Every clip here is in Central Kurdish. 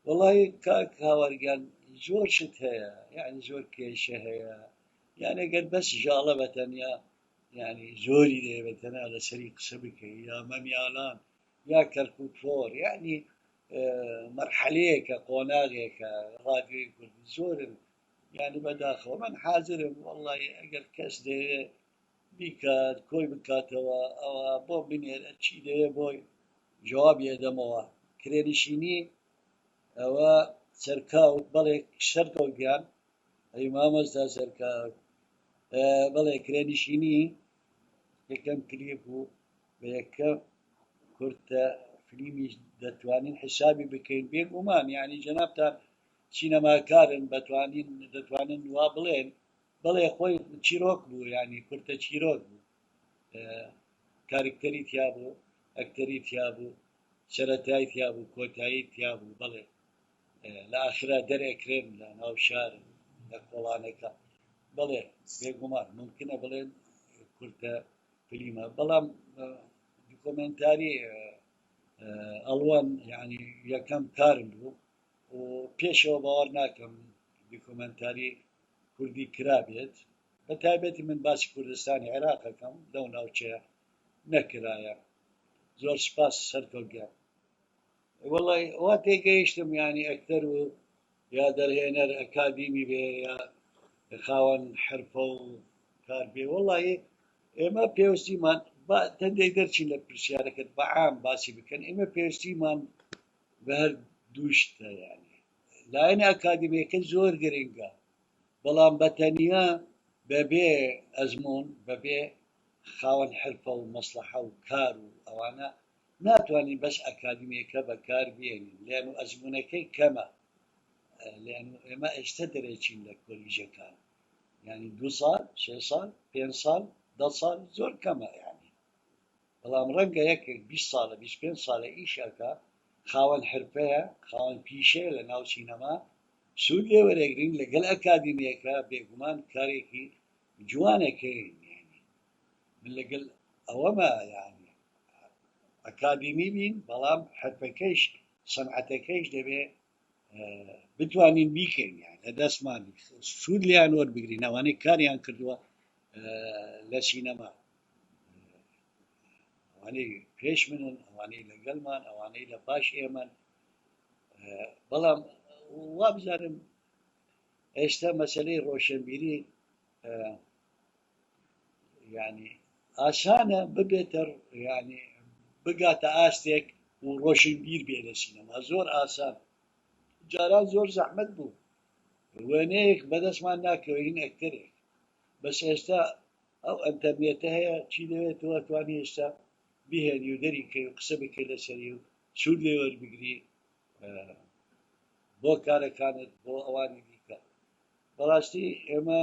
وڵی کاک هاوارگەل زۆر شت هەیە یعنی زۆر کێشە هەیە یانە گەر بەس ژاڵە بەتەنیا ینی زۆری دەێبێتەنا لەسەری قسە بکەی یا مەمیالان یا کەرکوک فۆر یانی مەرحەلەیەکە قۆناغێکە ڕادیۆی کوردی زۆرن یانی بەداخەوە من حازرم وەڵی ئەگەر کەس دەیەوێ بیکات کۆی بکاتەوە ئەوە بۆ بنێرە چی دەوێ بۆی جواب یێدەمەوە کرێنشینی ئەوە سەرکاوت بەڵێ شەرکەوت گیان ئەی مامۆستا سەرکاوت بەڵێ کرێنشینی یەکەم کلیپ و بە یەکەم کورتە فلیمیش دەتوانین حیسابی بکەین بێگومان یعنی جەنابتان سینەماکارن بەتوانین دەتوانن وا بڵێن بەڵێ خۆی چیرۆک بوو یعنی کورتە چیرۆک بوو کارکتەری تیا بوو ئەکتەری تیا بوو سەرەتای تیا بوو کۆتایی تیا بوو بەڵێ لە ئاخرا دەرئەکرێن لە ناو شار لە کۆڵانەکە بەڵێ بێگومان ممکنە بڵێن کورتە فلیمە بەڵام دکۆمنتاری ئەڵوان یعنی یەکەم کارم بوو و پێشەوە باوەڕ ناکەم دکۆمنتاری کوردی کرابێت بە تایبەتی من باسی کوردستانی عێراقەکەم لەو ناوچەیە نەکرایە زۆر سپاس سەرکەوت گەر وەڵا وا تێگەیشتم یانی ئەکتەر و یا دەرهێنەر ئەکادیمی بێ یا خاوەن حرفە و کار بێ وەڵی ئێمە پێویستیمان با تەندێک دەرچین لە پرسیارەکەت بە عام باسی بکەن ئێمە پێویستیمان بە هەر دووشتە یانی لایەن ئەکادیمیەکە زۆر گرنگە بەڵام بەتەنیا بەبێ ئەزمون بەبێ خاوەن حرفە و مەسلحە و کار و ئەوانە ناتوانین بەس ئەکادیمیەکە بەکار بێنین لێن و ئەزمونەکەی کەمە لێن و ئێمە ئێستە دەرێچین لە کۆلیژەکان یانی دوو ساڵ سێ ساڵ پێنج ساڵ دە ساڵ زۆر کەمە یانی بەڵام ڕەنگە یەکێک بیست ساڵە بیست پێنج ساڵە ئیشەکە خاوەن حرفەیە خاوەن پیشەیە لە ناو سینەما سوود لێ وەرەگرین لەگەل ئەکادیمیەکە بێگومان کارێکی جوانەکەین من لەگەل ئەوەمە یانی ئەکادیمی بین بەڵام حرفەکەیش سەنعەتەکەیش دەبێ بتوانین بیکەین یان لە دەستمان سوود لیان وەربگرین ئەوانەی کاریان کردووە لە سینەما ئەوانەی پێش منن ئەوانەی لەگەلمان ئەوانەی لە باش ئێمەن بەڵام وابزانم ئێستا مەسلەی ڕۆشنبیری یانی ئاسانە ببێتە یانی بگاتە ئاستێک و ڕۆشنبیر بێ لە سینەما زۆر ئاسان جاران زۆر زەحمت بوو وێنەیەک بەدەستمان ناکەوین ئەکتەرێک بەس ئێستا ئەو ئەنتەرنێتە هەیە چی لەوێ تۆ توانی ئێستا بهێنی و دەریکەی و قسە بکەی لەسەری و سوود لێ وەربگری بۆ کارەکانت بۆ ئەوانی دیکە بەڕاستی ئێمە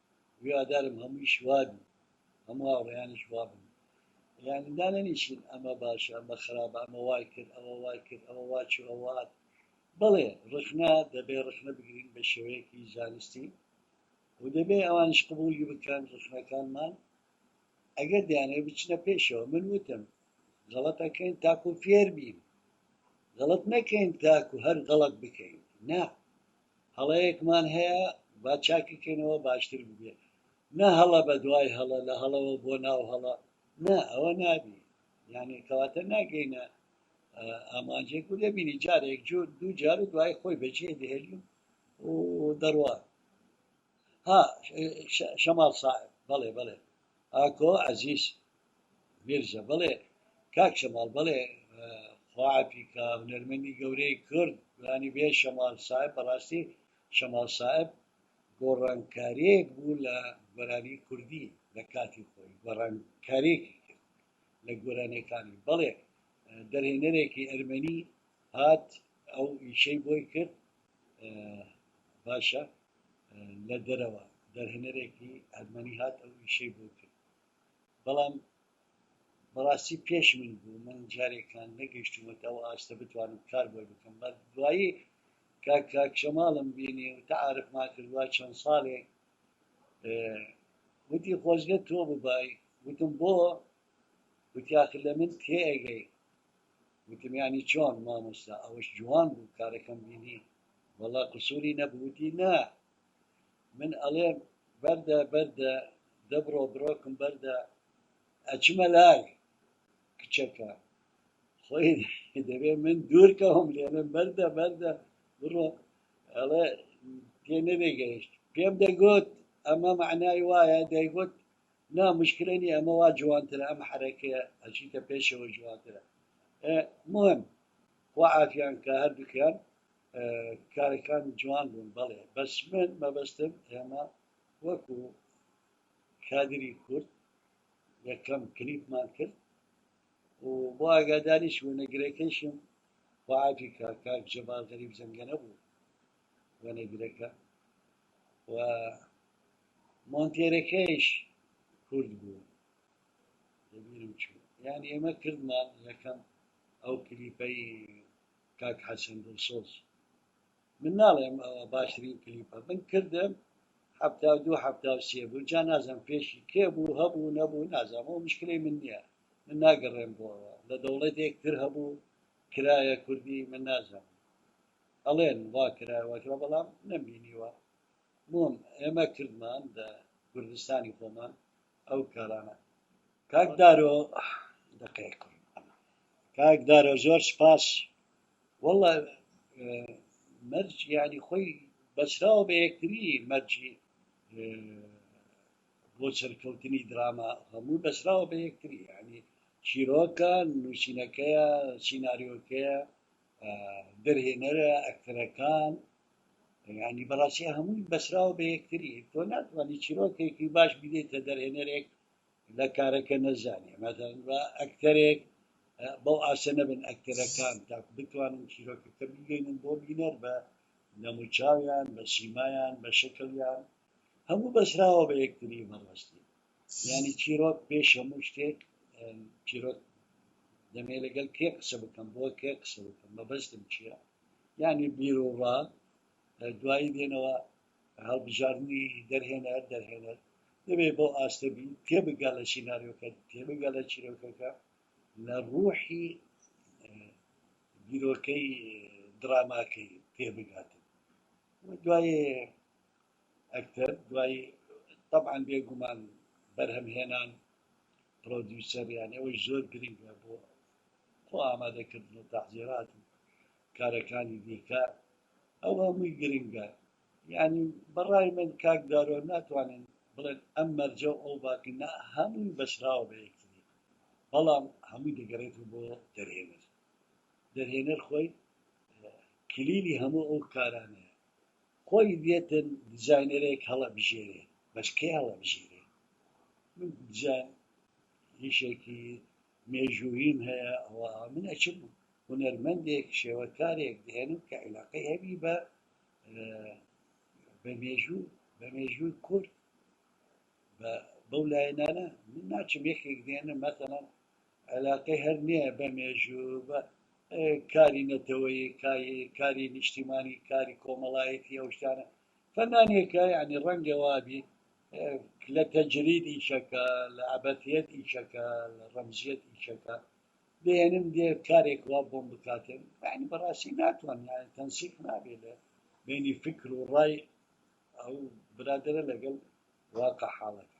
هیوادارم هەموویش وابی هەموو هاوڕێیانیش وابن یانی دانەنیشن ئەمە باشە ئەمە خراپە ئەمە وای کرد ئەوە وای کرد ئەوە وا چوو ئەوە هات بەڵێ ڕخنە دەبێ ڕخنە بگرین بە شێوەیەکی زانستی و دەبێ ئەوانیش قبوڵی بکەن ڕخنەکانمان ئەگەر دەیانەوێت بچنە پێشەوە من وتم غەڵەتەکەین تاکو فێر بین غەڵەت نەکەین تاکو هەر غەڵەت بکەین نا هەڵەیەکمان هەیە با چاکی کەینەوە باشتر ببێ نە هەڵە بە دوای هەڵە لە هەڵەوە بۆ ناو هەڵە نا ئەوە نابی یانی کەواتە ناگەینە ئامانجێک و دەبینی جارێک جور دوو جار و دوای خۆی بەجێ دەهێلی و دەڕوا ها شەماڵ ساحب بەڵێ بەڵێ ئاکۆ عەزیز میرزا بەڵێ کاک شەماڵ بەڵێ خواعەفی کە هونەرمەندی گەورەی کورد گۆرانی بێ شەماڵ ساحب بەڕاستی شەماڵ ساحب گۆڕانکاریەک بوو لە گۆرانی کوردی لە کاتی خۆی گۆڕانکارێکی کرد لە گۆرانەکانی بەڵێ دەرهێنەرێکی ئەرمەنی هات ئەو ئیشەی بۆی کرد باشە لە دەرەوە دەرهێنەرێکی ئەرمەنی هات ئەو ئیشەی بۆ کرد بەڵام بەڕاستی پێش من بوو من جارێکان نەگەیشتومەتە ئەو ئاستە بتوانم کار بۆی بکەم بە دوایی کاکشەماڵم بینی و تەعاعرف ما کردوە چەند ساڵێک وتی خۆزگە تۆ ببای وتم بۆ وتیاخ لە من تێگەی وتمیانی چۆن مامۆستا ئەوەش جوان بوو کارەکەم بینی وەڵا قسوری نەبو وتی نا من ئەڵێم بەردە بەردە دە بڕۆ بڕۆکم بەردە ئەچمە لای کچەکە خۆی دەبێ من دور کەوم لێڵێم بەردە بەردە بڕۆ ئەڵێ تێ نەبێ گەیشت پێم دەگوت ئەمە مەعنای وایە دەیگوت نا مشکلە نی ئەمە وا جوانترە ئەم حەرەکەیە ئەچیتە پێشەوە جوانترە مهم خوا عافیان کا هەردوکیان کارەکانی جوان بوون بەڵێ بەس من مەبەستم ئێمە وەکو کادری کورد یەکەم کلیپمان کرد و بۆ ئاگاداریش وەنەگرەکەیشم خوعافی کا کاک جەبار غەریب زەنگەنە بوو وەنەگرەکە و مۆنتێرەکەیش کورد بوو دەبیرم چوو یان ئێمە کردمان یەکەم ئەو کلیپەی کاک حەسەن دڵسۆز من ناڵێم ئەوە باشترین کلیپە من کردم حەفتا و دوو حەفتا و سێ بوو جا نازم پێشی کێ بوو هەبوو نەبوو نازم ئەو مشکلەی من نییە من ناگەڕێم بۆەوە لە دەوڵەتێک تر هەبوو کرایە کوردی من نازم ئەڵێن وا کرایوەکرا بەڵام نەمبینیوە بۆم ئێمە کردمان لە کوردستانی خۆمان ئەو کارانە کاک دارۆ دەقەیەک کاک دارۆ زۆر سپاس والله مەرج یعنی خۆی بەسراوە بە یەکتری مەرجی بۆ سەرکەوتنی دراما هەموو بەسراوە بە یەکتری یعنی چیرۆکە نووسینەکەیە سینناریۆکەیە دەرهێنەرە ئەکتەرەکان ینی بەڕاستی هەمووی بەسراوە بە یەکتری تۆ ناتوانانی چیرۆکێکی باش بدێتە دەرهێنەرێک لە کارەکە نەزانێ مەدەن بە ئەکتەرێک بەو ئاسە نەبن ئەکتەرەکان تا بتوانن چیرۆکەکە بگەینن بۆ بینەر بە نەموچاویان بە سیمایان بە شکلیان هەموو بەسراوە بە یەکتری بەڕاستی یانی چیرۆک پێش هەموو شتێک چیرۆک دەمێ لەگەل کێ قسە بکەم بۆ کێ قسە بکەم مەبەستم چییە یانی بیر و ڕا دوایی دێنەوە هەڵبژاردننی دەرهێنەر دەرهێنەر دەبێ بۆ ئاستەبی تێبگە لە سینناریۆکە تێبگە لە چیرۆکەکە لە ڕوحی بیرۆکەی دراماکەی پێبگاتن دوای ئەکتەر دوای تەبعەن بێ گومان بەرهەم هێنان پڕۆدیوسەر یانی ئەوەی زۆر گرنگە بۆ خۆ ئامادە کردن و تەحزیرات و کارەکانی دیکە ئەو هەمووی گرنگە یانی بەڕای من کاک دارۆ ناتوانن بڵێن ئەم مەرجە و ئەو باقی نا هەمووی بەسراوە بە یەکتری بەڵام هەمووی دەگەڕێت و بۆ دەرهێنەر دەرهێنەر خۆی کلیلی هەموو ئەو کارانەیە خۆی دێتن دجاینەرێک هەڵە بژێرێ بەس کەی هەڵە بژێرێ من دجا یشێکی مێژووییم هەیە ئەوە من ئەچم هونەرمەندێک شێوەکارێک دێنم کە عیلاقەی هەبی بە بە مێژوو بە مێژووی کورد بە بەو لایەنانە من ناچم یەکێک دێنم مەسەڵەن عەلاقەی هەر نیە بە مێژوو بە کاری نەتەوەیی کاری نیشتیمانی کاری کۆمەڵایەتی ئەو شتانە فەنانێکە یعنی ڕەنگە وابی لە تەجرید ئیشەکە لە عبەتیت ئیشەکە لە ڕەمزیت ئیشەکە دێنم دێ کارێک وا بۆم بکاتێن بەڕاستی ناتوان تەنسیق نابێت لە بینی فکر و ڕای ئەو برادەرە لەگەڵ واقع حاڵەکە